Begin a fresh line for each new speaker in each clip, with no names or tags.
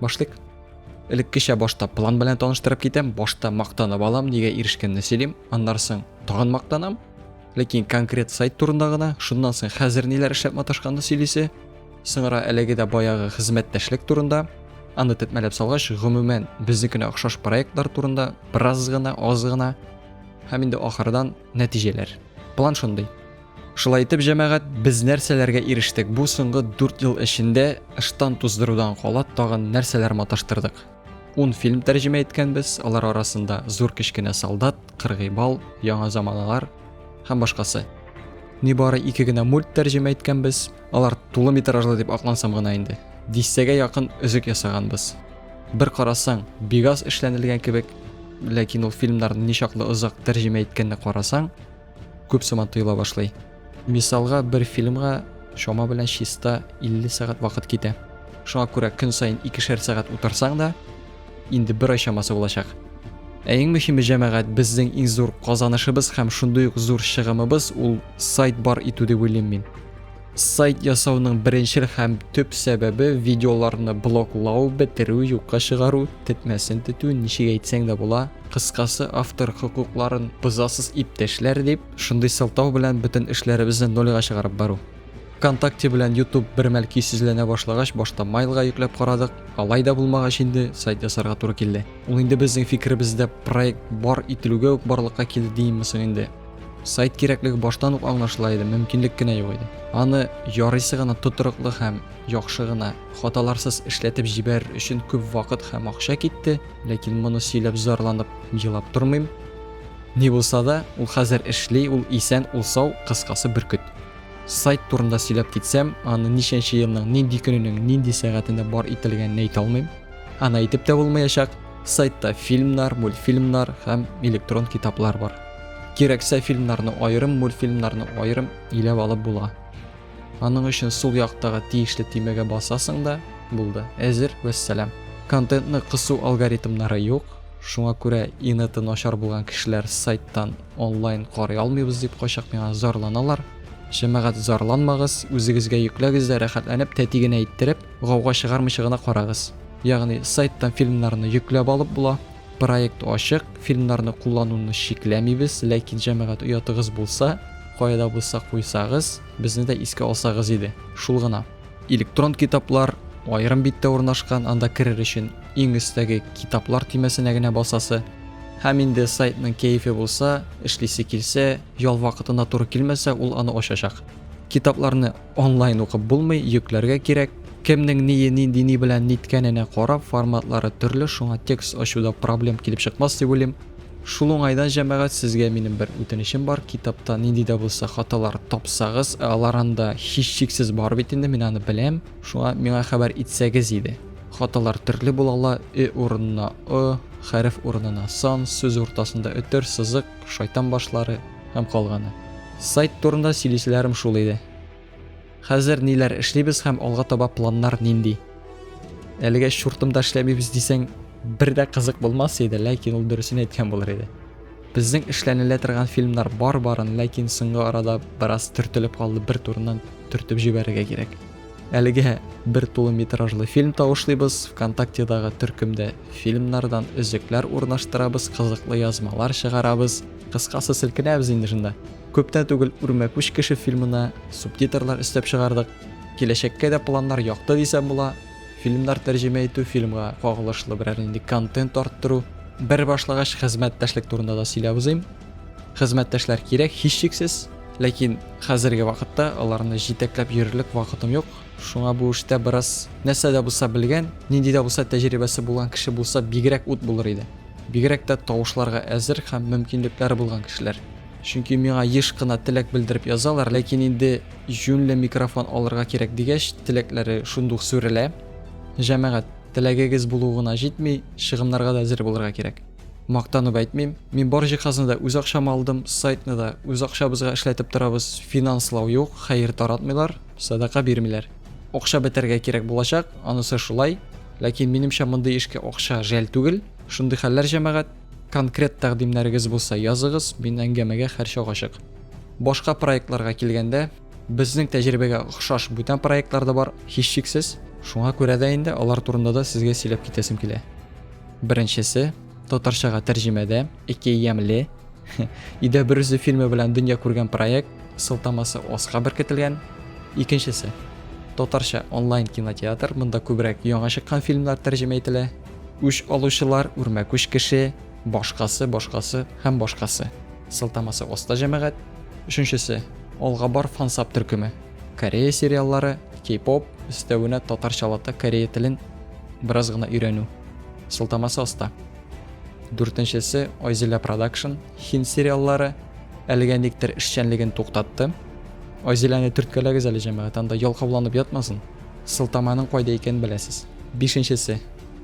Башлык. Элеккечә башта план белән таныштырып китәм, башта мактанып алам, нигә ирешкәнне сөйлим, аннары соң тагын мактанам. Ләкин конкрет сайт турында гына, шуннан соң хәзер ниләр эшләп маташканны сөйлисе. Соңра әлеге дә баягы хезмәттәшлек турында, аны тетмәләп салгач, гомумән безнекенә охшаш проектлар турында бераз гына, аз гына һәм инде ахырдан нәтиҗәләр. План шундый. Шулай итеп, җәмәгать, без нәрсәләргә ирештек? Бу соңгы 4 ел эчендә ыштан туздырудан кала тагын нәрсәләр маташтырдык? 10 фильм тәрҗемә иткәнбез, алар арасында Зур кечкенә солдат, Кыргый бал, Яңа заманалар һәм башкасы. Нибары ике генә мульт тәрҗемә иткәнбез, алар тулы метражлы дип аклансам гына инде. Дистәгә якын өзек ясаганбыз. Бер карасаң, бигаз эшләнелгән кебек, ләкин ул фильмнарны ничаклы озак тәрҗемә иткәнне карасаң, күп сома тоела башлый. Мисалга, бер фильмга чама белән чиста 50 сәгать вакыт китә. Шуңа күрә көн саен икешәр сәгать утырсаң да, инде бер ай чамасы булачак. Ә иң мөһиме җәмәгать, безнең иң зур казанышыбыз һәм шундый ук зур чыгымыбыз ул сайт бар итү дип уйлыйм мин. Сайт ясауның беренчел һәм төп сәбәбе видеоларны блоклау, бетерү, юкка чыгару, тетмәсен тетү, ничек әйтсәң дә була. Кыскасы, автор хокукларын бозасыз иптәшләр дип, шундый сылтау белән бөтен эшләребезне нольга чыгарып бару. ВКонтакте белән YouTube бермәл көйсезләнә башлагач, башта майлга йөкләп карадык, алай да булмагач инде сайт ясарга туры килде. Ул инде безнең фикеребездә проект бар ителүгә үк барлыкка килде диимме соң инде. Сайт кирәклеге баштан ук аңлашыла иде, мөмкинлек кенә юк иде. Аны ярыйсы гына тотрыклы һәм яхшы гына, хаталарсыз эшләтеп җибәрер өчен күп вакыт һәм акча китте, ләкин моны сөйләп зарланып, елап тормыйм. Ни булса да, ул хәзер эшли, ул исән, ул сау, кыскасы бөркет. Сайт турында сөйләп китсәм, аны ничәнче елның, нинди көненең, нинди сәгатендә бар ителгәнен әйтә алмыйм. Аны әйтеп тә булмаячак. Сайтта фильмнар, мультфильмнар һәм электрон китаплар бар. Кирәксә фильмнарны аерым, мультфильмнарны аерым иләп алып була. Аның өчен сул яктагы тиешле тимәгә басасың да, булды. Әзер, вәссәлам. Контентны кысу алгоритмнары юк, шуңа күрә инеты начар булган кешеләр сайттан онлайн карый алмыйбыз дип кайчак миңа зарланалар. Җәмәгать зарланмагыз, үзегезгә йөкләгез дә рәхәтләнеп, тәти генә иттереп, гауга чыгармыйча гына карагыз. Ягъни сайттан фильмнарны йөкләп алып була. Проект ачык, фильмнарны куллануны чикләмибез, ләкин җәмәгать оятыгыз булса, кая да булса куйсагыз, безне дә искә алсагыз иде. Шул гына. Электрон китаплар аерым биттә урнашкан, анда керер өчен иң өстәге китаплар төймәсенә генә басасы. Һәм инде сайтның кәефе булса, эшлисе килсә, ял вакытына туры килмәсә, ул аны ачачак. Китапларны Онлайн укып булмый, йөкләргә кирәк. Кемнең ние, нинди ни белән ниткәненә карап, форматлары төрле, шуңа текст ачуда проблем килеп чыкмас дип уйлыйм. Шул уңайдан, җәмәгать, сезгә минем бер үтенечем бар, китапта нинди дә булса хаталар тапсагыз, ә алар анда һичшиксез бар бит инде, мин аны беләм, шуңа миңа хәбәр итсәгез иде. Хаталар төрле була ала, ө урынына ы, хәреф урынына сан, сүз уртасында өтер, сызык, шайтан башлары, һәм калганы. Сайт турында сөйлиселәрем шул иде. Хәзер ниләр эшлибез һәм алга таба планнар нинди? Әлегә чуртымда эшләмибез дисәң, бер дә кызык булмас иде, ләкин ул дөресен әйткән булыр иде. Безнең эшләнелә торган фильмнар бар барын, ләкин соңгы арада бераз төртелеп калды, бер турыннан төртеп җибәрергә кирәк. Әлегә бер тулы метражлы фильм тавышлыйбыз, ВКонтактедагы төркемдә фильмнардан өзекләр урнаштырабыз, кызыклы язмалар чыгарабыз. Кыскасы, селкенәбез инде шунда. Күптән түгел Үрмәкүч кеше фильмына субтитрлар өстәп чыгардык. Киләчәккә дә планнар якты дисәм була. Фильмнар тәрҗемә итү, фильмга кагылышлы берәр нинди контент арттыру. Бер башлагач, хезмәттәшлек турында да сөйләп узыйм. Хезмәттәшләр кирәк, һичшиксез. Ләкин хәзерге вакытта аларны җитәкләп йөрерлек вакытым юк. Шуңа бу эштә бераз нәрсә дә булса белгән, нинди дә булса тәҗрибәсе булган кеше булса бигрәк ут булыр иде. Бигрәк тә тавышларга әзер һәм мөмкинлекләре булган кешеләр. Чөнки миңа еш кына теләк белдереп язалар, ләкин инде юньле микрофон алырга кирәк дигәч, теләкләре шундук сүрелә. Җәмәгать, теләгегез булу гына җитми, чыгымнарга да әзер булырга кирәк. Мактанып әйтмим, мин бар җиһазны да үз акчама алдым, сайтны да үз акчабызга эшләтеп торабыз, финанслау юк, хәер таратмыйлар, садака бирмиләр. Акча бетәргә кирәк булачак, анысы шулай. Ләкин минемчә мондый эшкә акча жәл түгел. Шундый хәлләр җәмәгать. Конкрет тәкъдимнәрегез булса языгыз, мин әңгәмәгә һәрчак ачык. Башка проектларга килгәндә, безнең тәҗрибәгә охшаш бүтән проектлар да бар, һичшиксез. Шуңа күрә дә инде алар турында да сезгә сөйләп китәсем килә. Беренчесе. Татарчага тәрҗемәдә ике ямьле Идә бер үзе фильмы белән дөнья күргән проект сылтамасы Оска беркетелгән. Икенчесе татарча онлайн кинотеатр, монда күбрәк яңа чыккан фильмнар тәрҗемә ителә. Үч алучылар, үрмәкүч кеше, башкасы, башкасы һәм башкасы. Сылтамасы Оста җәмәгать. Өченчесе Алга бар фансап төркеме. Корея сериаллары, кей-поп, өстәвенә татарчалата корея телен бераз гына өйрәнү. Сылтамасы аста. Дүртенчесе Айзилә продакшн, хин сериаллары әлегә никтер эшчәнлеген туктатты. Айзиләне төрткәләгез әле җәмәгать, анда ялкауланып ятмасын. Сылтаманың кайда икәнен беләсез. Бишенчесе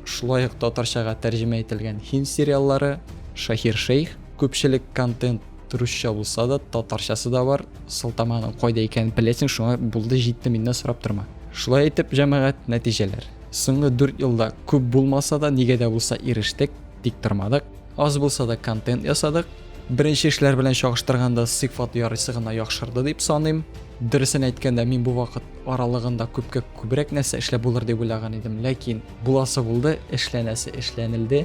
шулай ук татарчага тәрҗемә ителгән хин сериаллары Шахир Шейх, күпчелек контент Русча булса да, татарчасы да бар. Сылтаманың кайда икәнен беләсең, шуңа булды, җитте, миннән сорап торма. Шулай итеп, җәмәгать, нәтиҗәләр. Соңгы 4 елда күп булмаса да, нигә дә булса ирештек, тик тормадык. Аз булса да контент ясадык. Беренче эшләр белән чагыштырганда сыйфат ярыйсы гына яхшырды дип саныйм. Дөресен әйткәндә, мин бу вакыт аралыгында күпкә күбрәк нәрсә эшләп булыр дип уйлаган идем, ләкин буласы булды, эшләнәсе эшләнелде.